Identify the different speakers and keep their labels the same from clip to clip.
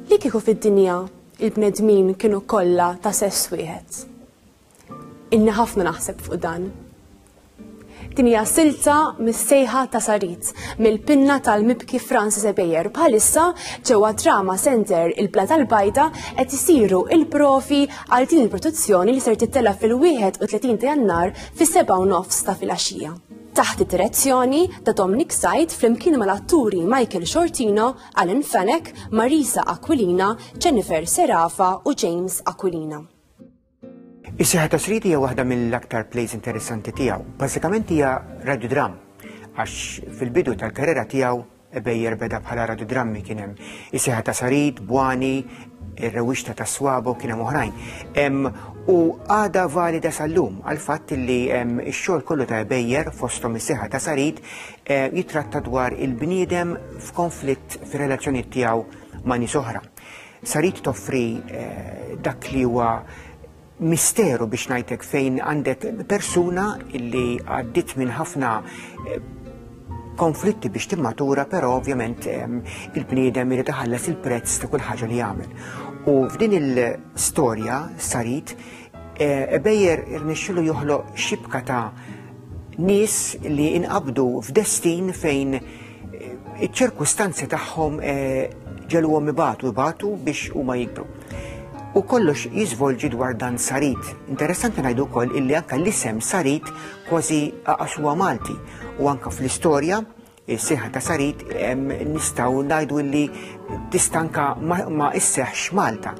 Speaker 1: Li kieku fid-dinja il-bnedmin kienu kollha ta' sess wieħed. Inni ħafna naħseb fuq dan. Din hija silta mis-sejħa ta' Sarit mill-pinna tal-mibki Francis Ebejer bħalissa ġewwa Drama Center il-Bla tal-Bajda qed isiru il-profi għal din il-produzzjoni li ser tittella fil-31 ta' Jannar fis-sebgħa u nofs ta' filgħaxija taħt id-direzzjoni ta' Dominic Said flimkien mal-atturi Michael Shortino, Alan Fennec, Marisa Aquilina, Jennifer Serafa u James Aquilina. Is-seħħa ta' Sridi hija waħda mill-aktar plays interessanti tiegħu. Bażikament hija radiodram għax fil-bidu tal-karriera tiegħu Bejjer beda bħala radodrammi kien hemm is-seħħa ta' Sarid, Bwani, ir-rewwixta ta' Swabo kien hemm oħrajn. U għada valida sal-lum għal-fatt li x-xogħol kollu ta' Bejjer fosthom is-seħħa ta' Sarid eh, jitratta dwar il-bniedem f'konflitt fir-relazzjoni tiegħu ma' nies oħra. Sarid toffri eh, dak li huwa misteru biex ngħidlek fejn għandek persuna illi għaddit minn ħafna eh, konflitti biex timmatura, però ovvjament ehm, il-bniedem irid iħallas il-prezz ta' kull ħaġa li jagħmel. U f'din il-storja sarit eh, ebejjer irnexxilu joħloq xibka ta' nies li inqabdu f'destin fejn Iċ-ċirkustanzi tagħhom eh, ġeluhom ibatu ibatu biex huma jikbru. U kollox jiżvolġi dwar dan sarit. Interessanti ngħidu wkoll illi anke l-isem sarit kważi aqasuha Malti u anke fl-istorja il-siħa ta' sarit nistaw najdu illi tistanka ma isseħx Malta.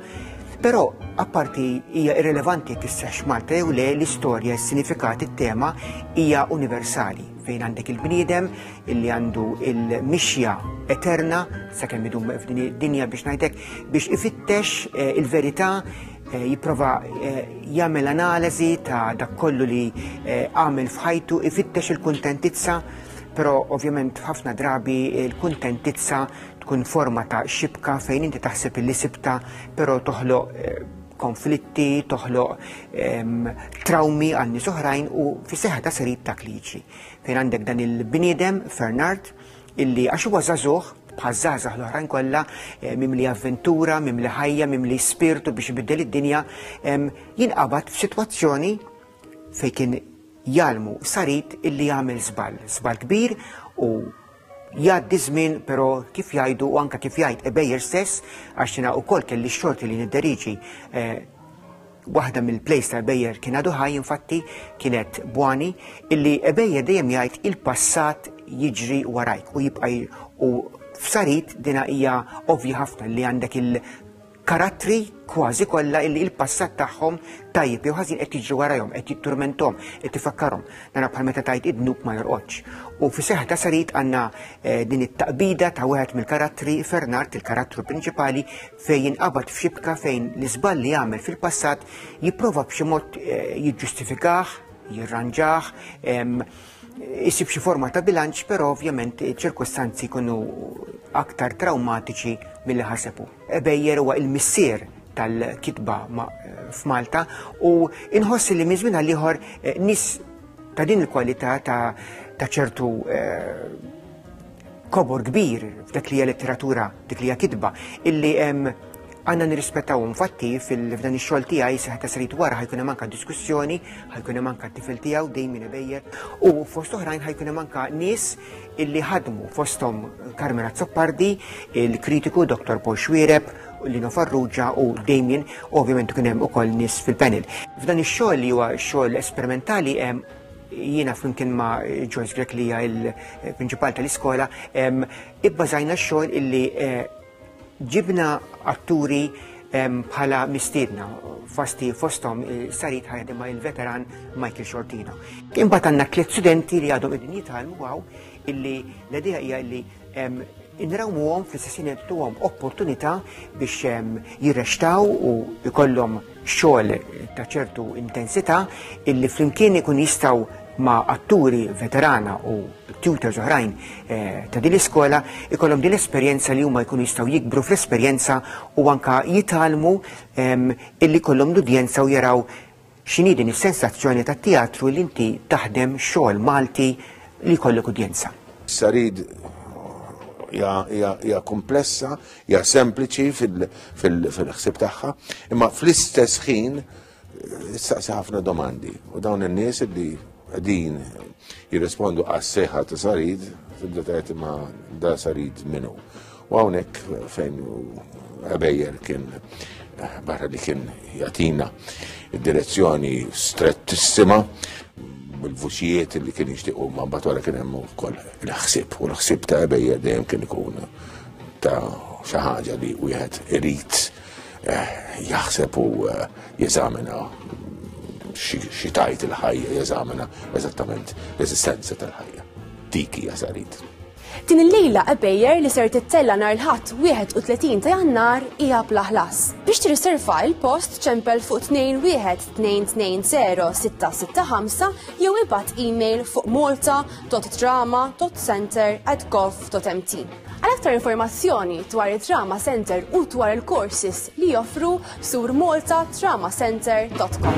Speaker 1: Pero, apparti hija irrelevanti tisseħx Malta jew le l-istorja, s-sinifikat, it-tema hija universali. fejn għandek il-bniedem illi għandu il-mixja eterna sakemm idum f'din id-dinja biex ngħidlek biex ifittex eh, il-verità eh, jipprova eh, jagħmel analiżi ta' dak kollu li għamel f'ħajtu ifittex il-kuntentizza però ovvjament ħafna drabi il-kuntentizza tkun forma ta' xibka fejn inti taħseb li sibta però toħloq konflitti, toħloq trawmi għal nies oħrajn u fis seħħa ta' serit ta' kliċi. Fejn għandek dan il-bniedem, Fernard, illi għax huwa żagħżugħ bħaż-żgħażagħ l-oħrajn kollha eh, mimli avventura, mimli ħajja, mimli spirtu biex ibiddel id-dinja, jinqabad f'sitwazzjoni fejn kien jalmu sarit illi jagħmel żball, żball kbir u Jgħaddi żmien però kif jgħidu u anke kif jgħid ebejjer stess għax jiena wkoll kelli x-xorti li nidderiġi eh, waħda mill-plejs ta' ebejjer kien għadu ħaj infatti kienet bwani illi ebejjer dejjem jgħid il-passat jiġri warajk u jibqa' u f'sarit dina hija ovvji ħafna li għandek il karattri kważi kollha illi il-passat tagħhom tajjeb jew ħażin qed jiġri warajhom, qed jitturmentom, qed tifakkarhom. Nara bħal meta tajt id-dnub ma jorqodx. U fi seħħ ta' sarit għandna eh, din it-taqbida ta' wieħed mill-karattri Fernard, il-karattru prinċipali, fejn jinqabad f'xibka fejn l-iżball li għamel fil-passat jipprova b'xi mod eh, jiġġustifikah, jirranġah, jisib xi forma ta' bilanċ, però ovvjament ċirkostanzi jkunu aktar traumatiċi mill-li ħasebu. Beyer huwa il-missier tal-kitba f'Malta u inħossi li minn żmien għal ieħor eh, nis ta' din il-kwalità ta' ċertu eh, kobor kbir f'dak li hija letteratura, dik li hija kitba, illi hemm għanna nirrispettaw infatti fil-fdan ix-xogħol tiegħi se ħadd srid wara ħajkun hemm anke diskussjoni, ħajkun hemm anke tifel tiegħu dejjem ibejjer u fost oħrajn ħajkun hemm anke nies illi ħadmu fosthom Carmen Azzopardi, il-kritiku Dr. Paul Xwireb, Lino Farrugia u Damien, u ovvjament kien hemm ukoll nies fil-panel. F'dan ix-xogħol li huwa xogħol esperimentali hemm jiena flimkien ma' Joyce Grek li hija l-prinċipal tal-iskola, ibbażajna x-xogħol illi eh, Ġibna atturi bħala mistiedna fasti fostom sarit ħajja ma' il-veteran Michael Shortino. Imbagħad għandna tliet studenti li għadhom qegħdin jitgħallmu għaw illi l-idea hija illi inrawmuhom fl-istessin għom opportunità biex jirrextaw u jkollhom xogħol ta' ċertu intensità illi flimkien ikun jistgħu ma' atturi veterana u tutors oħrajn eh, ta' din l-iskola ikollhom din l-esperjenza li huma jkunu jistgħu jikbru fl-esperjenza u anka jitalmu ehm, illi kollhom l-udjenza u jaraw x'inhi din is-sensazzjoni tat-teatru li inti taħdem xogħol Malti li jkollok udjenza. Sarid hija komplessa, Ja sempliċi fil-ħsib tagħha, imma fl-istess ħin saqsi ħafna domandi u dawn in-nies li din jirrispondu għas seħħa ta' sarid tibda tgħid ma da sarid minnu. U hawnhekk fejn għabejjer kien barra li kien jatina id-direzzjoni strettissima bil-vuċijiet li kien jixtiequ ma batwara kien hemm ukoll il-ħsieb u l-ħsieb ta' għabejjer dejjem kien ikun ta' xi ħaġa li wieħed irid eh, jaħseb u eh, jeżamina xi tajt il-ħajja jeżamina eżattament l-eżistenza tal-ħajja. Dik hija sarit. Din il-lejla għabejjer li ser tittella nar l-ħadd 31 ta' jannar hija plaħlas. Biex tirriserva il-post ċempel fuq 21220 jew ibad email fuq malta.drama.center at gov.mt. Għal aktar informazzjoni dwar it-Trauma Center u dwar il-courses li joffru sur maltatraumacenter.com.